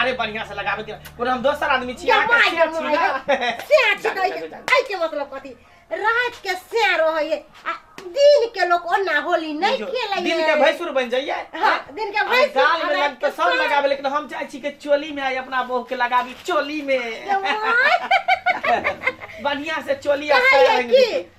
अरे बढ़िया से लगाबे के कोनो हम दोसर आदमी छी अहाँ जमाई के सेठ छी जमाई ना सेर जा, छिकै जा, जा। ऐ के मतलब कथी रात के सेर रहै है आ दिन के लोग ओना होली नहीं जो, खेलै दिन के भैंसुर बन जाइए हाँ, दिन के भैंसुर, गाल में हमरा लग तो सब कितना- लगाबे लेकिन हम चाहे छी के चोली में आई अपना बहू के लगाबी चोली में बढ़िया से चोली आ कहै साया है रंग की दी।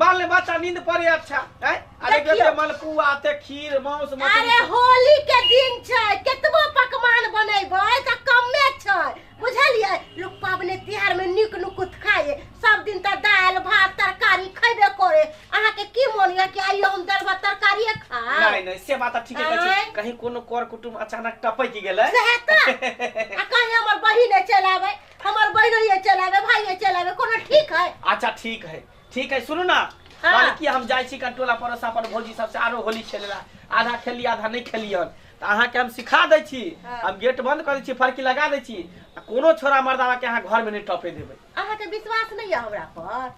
बाल बच्चा नींद पड़े अच्छा है अरे देखियो। जैसे मलपुआ ते खीर मांस अरे मछली होली के दिन छै केतबो पकवान बनेबै तऽ कमे छै बुझलियै लोक पाबनि तिहार में नीक नुकुत खाइए सब दिन तऽ दालि भात तरकारी खैबे करे अहाँके की मोन यऽ कि आइयो हम दालि भात तरकारिए खाएब नहीं नहीं से बात ठीक है आँय? कहीं कोनो कर कुटुम अचानक टपक गेले सएह तऽ आ कहीं हमर बहिने चलि आबै हमर बहिनोए चलि आबै भाइए चलि आबै कोनो ठीक है अच्छा ठीक है ठीक है सुनू ना हाँ। कल की हम जाइ छी कटोला परोस अपन भौजी सबसे आरो होली खेले ला आधा खेली आधा नहीं खेली हन तो अहाँ के हम सिखा दै छी हाँ। हम गेट बंद कर दै छी फरकी लगा दै छी आ कोनो छोरा मर्दावा के अहाँ घर में नहीं टपे देबै अहाँ के विश्वास नहीं है हमरा पर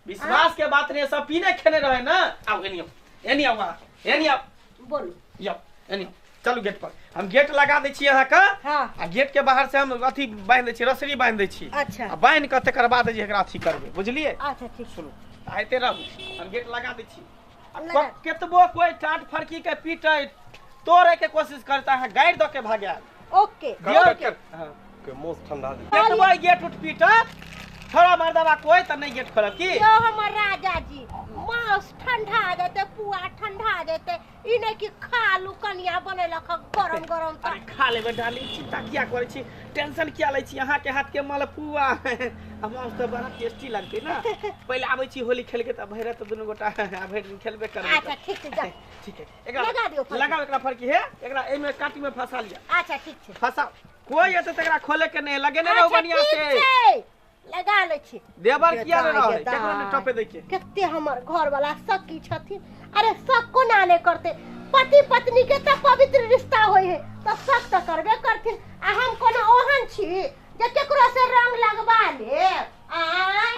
विश्वास के बात नहीं सब पीने खेने रहे ना आओ एनी आओ एनी आओ अहाँ एनी आओ बोलू यौ एनी चलू गेट पर हम गेट लगा दै छी अहाँके हाँ आ गेट के बाहर से हम अथी बांध दै छी रसरी बांध दै छी अच्छा आ बांध के तकर बाद जे एकरा अथी करबै बुझलियै अच्छा ठीक सुनू तऽ आइते रहू हम गेट लगा दै छी आ लगा। को- केतबो कोई टाट फड़की के पीटे तोड़े के कोशिश करता अहाँ गाड़ि दऽ के भगायब ओके ओके के मोस ठंडा दे गेट बॉय गेट उठ पीटत छोड़ा मार दवा कोई त नहीं गेट खोलब की यो हमर राजा जी मांस ठंडा जेते पुआ ठंडा जेते ई नै कि खालू कनिया बनेलक ह गरम गरम अरे त खा लेबे डार्लिंग चिंता किया करे छी टेंशन किया ले छी अहाँ के हाथ के मलपुआ हम हम तो बड़ा टेस्टी लगते ना पहले आबै छी होली खेल के त भैरत दुनू गोटा आ भैर दिन खेलबे करबे अच्छा ठीक छै जा ठीक है एकरा लगा दियौ फरकी। लगाओ एकरा फरकी हे एकरा एहि में काटी में फंसा लिया अच्छा ठीक छै फंसा कोई एते त एकरा खोले के नहीं लगे ने रहो अच्छा, बढ़िया ठीक से छै। लगा लै छी देवर किया ने रहो गेदाय, केकरा ने गेदाय। टपे दै के कते हमर घर वाला सखी छथिन अरे शक कोना नहि करते पति पत्नी के तऽ पवित्र रिश्ता होइ है तऽ शक तऽ करबे करथिन आ हम कोनो ओहन छी जे केकरो से रंग लगबा लेब आय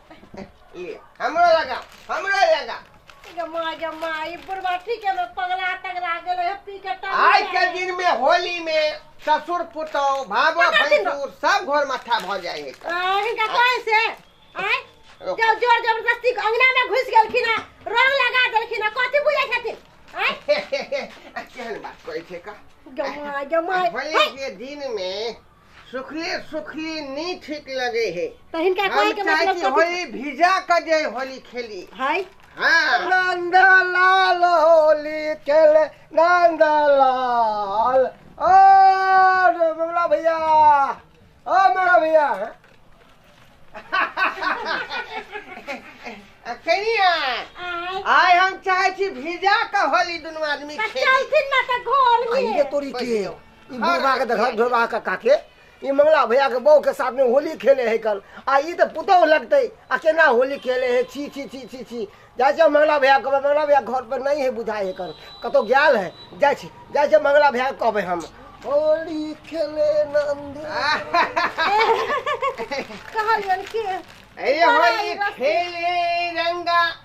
ले हमरो लगा हमरो लगा गे माय गे माय ई बुढ़वा ठीके में पगला तगला गेलै हे पी के टाइम आज के दिन में होली में ससुर पुतौह भावो पकड़ दिन भैंसुर सब घोर माथा भ जाए है आ, हिनका कहे से आय रुक। जब जोर जबरदस्ती के अंगना में घुस गेलखिन आ रंग लगा देलखिन आ कथी बुझै छथिन आय केहन बात कहै छै का गमाय गमाय होली के दिन में सुखले सुखले नहीं ठीक लगे है तो हिनका हम कहे के चाहे मतलब कि कथी होली भिजा के जे होली खेली है हाँ नंद लाल होली खेल नंद लाल ओ रे बबला भैया ओ मेरा भैया कनिया आय हम चाहे छी भिजा के होली दुनू आदमी खेली चलथिन ना त घर में अइए तोरी के ई बुढ़वा के देखल ढोलवा के काके ई मंगला भैया के बहू के साथ में होली खेले है कल आ ई तो पुतौ लगते आ केना होली खेले है छी छी छी छी छी जाय छै मंगला भैया कहबै मंगला भैया घर पर नहीं है बुझाय है कर कतौ गेल है जाय छै जाय छै मंगला भैया के कहबै हम होली खेले नंद कहलियन के अरे होली खेले रंगा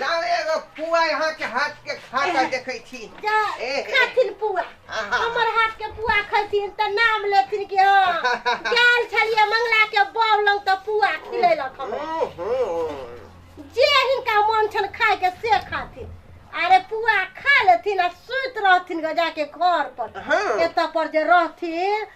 लाउ एगो पुआ यहाँ के हाथ के खा के देखै छी जा ए, ए। खाथिन पुआ आहा। हमर हाथ के पुआ खैथिन तऽ नाम लेथिन कि हँ गेल छलियै मंगला के बाउ लग तऽ पुआ खिलेलक हमरा हूँ, हूँ। जे हिनका मोन छन खाय के से खाथिन अरे पुआ खा लेथिन आ सुति रहथिन ग जाके घर पर हाँ। एतऽ पर जे रहथिन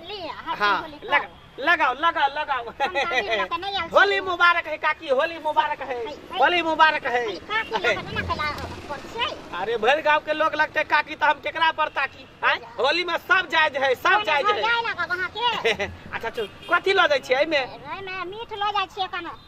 लिअ हर चीज हाँ होली लग, करू। लगाओ लगाओ लगाओ हम दादी लऽ कऽ नहि आयल छी। होली मुबारक है काकी होली मुबारक है है, है। होली मुबारक है अरे काकी लऽ कऽ एना केला पर छै अरे भरि गांव के लोग लगते काकी तो हम केकरा पर ताकी आँय? होली में सब जायज है सब जायज है जाय लागब अहाँके अच्छा चल कथी लऽ जाइ छियै एहिमे एहिमे मीठ लऽ जाइ छियै कने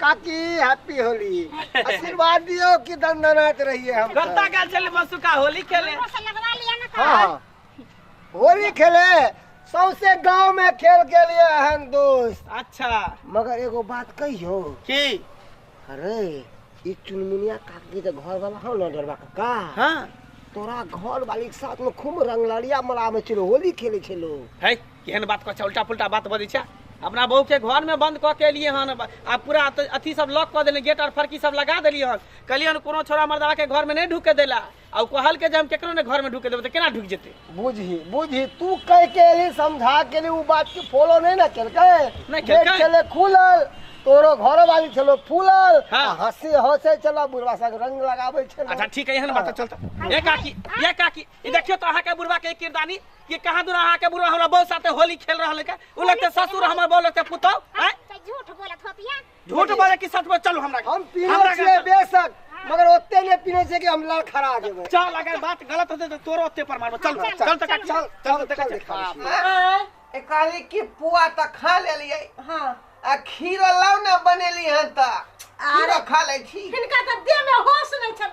काकी हैप्पी होली आशीर्वाद दियो कि दंदनात रहिए हम करता का चल मसुका होली खेले हाँ हाँ होली खेले सौसे गांव में खेल के लिए अहम दोस्त अच्छा मगर एगो बात कहियो की अरे ई चुनमुनिया काकी के घर वाला हो ना डरवा काका हाँ तोरा घर वाली के साथ में खूब रंगलड़िया मला में चलो होली खेले छे लोग है केहन बात कह उल्टा पुल्टा बात बजे छे अपना बहू के घर में बंद कऽ के एलिए हन आ पूरा अथी सब लॉक कऽ देलिए गेट और फरकी सब लगा देलिए हन कहलिए हन कोनो छोरा मर्दा के घर में नहीं ढुके देला आ कहल के जे हम केकरो ने घर में ढुके देबे तो केना ढुक जेते बुझी बुझी तू कह के एली समझा के एली उ बात के फॉलो नहीं ना केलके नहीं केलके चले खुलल तोरो घर वाली छलो फूलल हाँ। हंसी हंसे चला बुढ़वा सा रंग लगाबे छे अच्छा ठीक है एहन बात चलता ए काकी ए काकी ई देखियो तो अहा के बुढ़वा के किरदानी कि कहाँ दूर अहाँ के बुढ़वा हमरा बहू साथे होली खेल रहल है का उ लगते ससुर हमर बहू लगते पुतौ हैं तो झूठ बोलत होतिया झूठ बोले कि सच बोले चलू हमरा हम पीने हमरा छियै के- बेशक मगर ओते नहि पीने छियै कि हम लड़ खड़ा जेबै चल अगर बात गलत होते तो तोरो ओते पर मारबो चल चल, चल चल, तक चल, चल चल तक चल, देखा बाप रे। ए कहली कि पुआ तऽ खा लेलियै हाँ आ खीर लाउ ने बनेली हन तऽ खीर खा लै छी हिनका तऽ देह में होश नहीं छन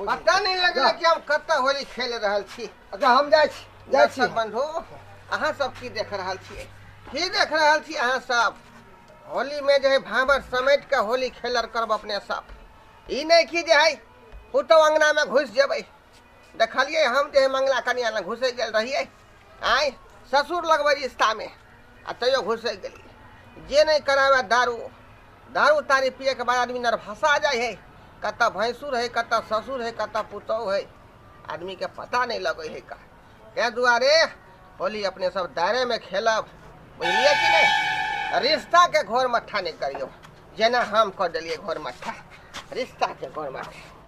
पता नहीं लगल कि हम कत होली खेल रहल छी अच्छा हम जाइ छी जाइ छी दर्शक बंधु अहाँ सब की देख रहल छियै की देख रहल छी अहाँ सब होली में जे है भावर समेट के होली खेलर करब अपने सब ई नहीं कि जे है पुतौ अंगना में घुस जेबै देखलियै हम जे है मंगला कनिया लग घुसे गेल रहियै आँय ससुर लगबै रिश्तामे आ तैयो घुसि गेली जे नहि कराबै दारू दारू तारी पियैके बाद आदमी नरभसा जाइ हइ कतऽ भैंसुर हइ कतऽ ससुर हइ कतऽ पुतहु हइ आदमीके पता नहि लगै हइ का ताहि दुआरे होली अपने सब दायरेमे खेलब बुझलियै कि नहि रिश्ताके घोर मट्ठा नहि करियौ जेना हम कऽ देलियै घोर मट्ठा रिश्ताके घोर मट्ठा